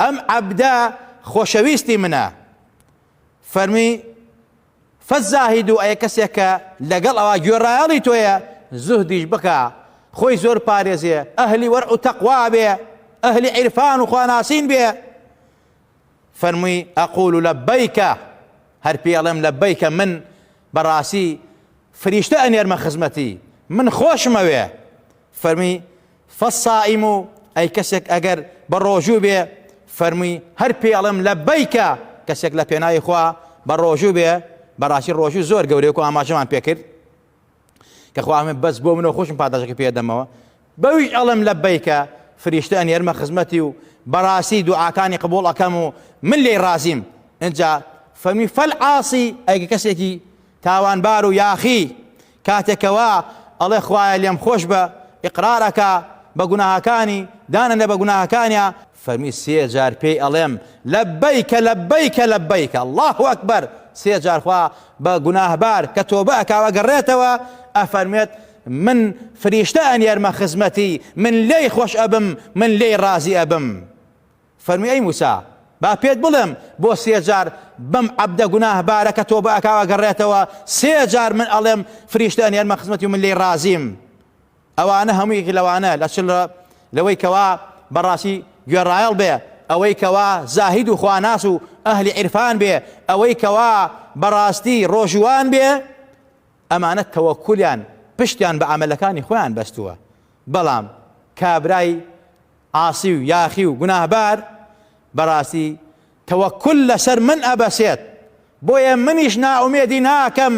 ئەم عەبدە خۆشەویستی منە. فەرمی، فالزاهد، ئەی کەسێک کە لەگەڵ ئەوا گوێڕایەڵی تۆیە، زوهدیش بکا، خۆی زۆر پارێزێ، ئەهلی وەرع و تەقوا بێ، ئەهلی عیرفان و خواناسین بێ. فەرمووی، اقول لبیک، هەر پێی ئەڵێم لبیک، من بە ڕاستی فریشتە ئەنێرمە خزمەتی، من خۆشمەوێ. فەرمی، فالصائم ئەی کەسێک ئەگەر بە ڕۆژوو بێ فەرمووی هەر پێی ئەڵێم لەبەیکە کەسێک لە پێناوی خوا بە ڕۆژوو بێ بەڕاستی ڕۆژوو زۆر گەورەیە وەکو ئاماژەمان پێ کرد کە خوا فەرمووی بەس بۆ منەوە خۆشم پاداشەکەی پێ دەمەوە بەویش ئەڵێم لەبەیکە فریشتە ئەنێرمە خزمەتی و بەڕاستی دوعاکانی قبوڵ ئەکەم و من لێی ڕازیم ئینجا فەرمی فەلعاسی ئەگە کەسێکی تاوانبار و یاخی کاتێک کە وا ئەڵێ خوایە لێم خۆش بە ئیقرار ئەکا بە گوناهەکانی دانەنێ بە گوناهەکانیا، فەرمی سێ جار پێی ئەڵێم لەبەیک لەبەیک لەبەیک اللە اکبر سێ جار خوا بە گوناهبار کە تۆبە ئەکا و ئەگەڕێتەوە ئەفەرموێت من فریشتە ئەنێرمە خزمەتی من لێی خۆش ئەبم من لێی ڕازی ئەبم. فەرمووی ئەی موسا با پێت بڵێم بۆ سێ جار بەم عەبدە گوناهبارە کە تۆبە ئەکا ئەگەڕێتەوە سێ جار من ئەڵێم فریشتە ئەنێرمە خزمەتی و من لێی ڕازیم ئەوانە هەموو یەکێک لەوانە لە چل لەوەی کەوا بەڕاستی گوێڕایەڵ بێ ئەوەی کەوا زاهید و خواناس و ئەهلی عیرفان بێ ئەوەی کەوا بەڕاستی ڕۆژوان بێ ئەمانە تەوەکولیان پشتیان بە عملەکانی خۆیان بەستووە بەڵام کابرای عاسی و یاخی و گوناهبار بەڕاستی تەوەکول لەسەر من ئەبەسێت، بۆیە منیش نائومێدی ناکەم،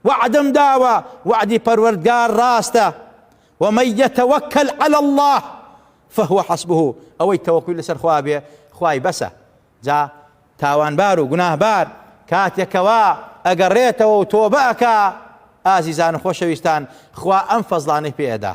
وەعدم داوە، وەعدی پەروەردگار ڕاستە، ومن یتوکل علی اللە فهو حسبه، ئەوەی تەوەکولی لەسەر خوا بێ خوای بەسە، جا تاوانبار و گوناهبار کاتێک کەوا ئەگەڕێتەوە و تۆبە ئەکا، ئازیزان و خۆشەویستان خوا ئەم فەزڵانەی پێ ئەدا.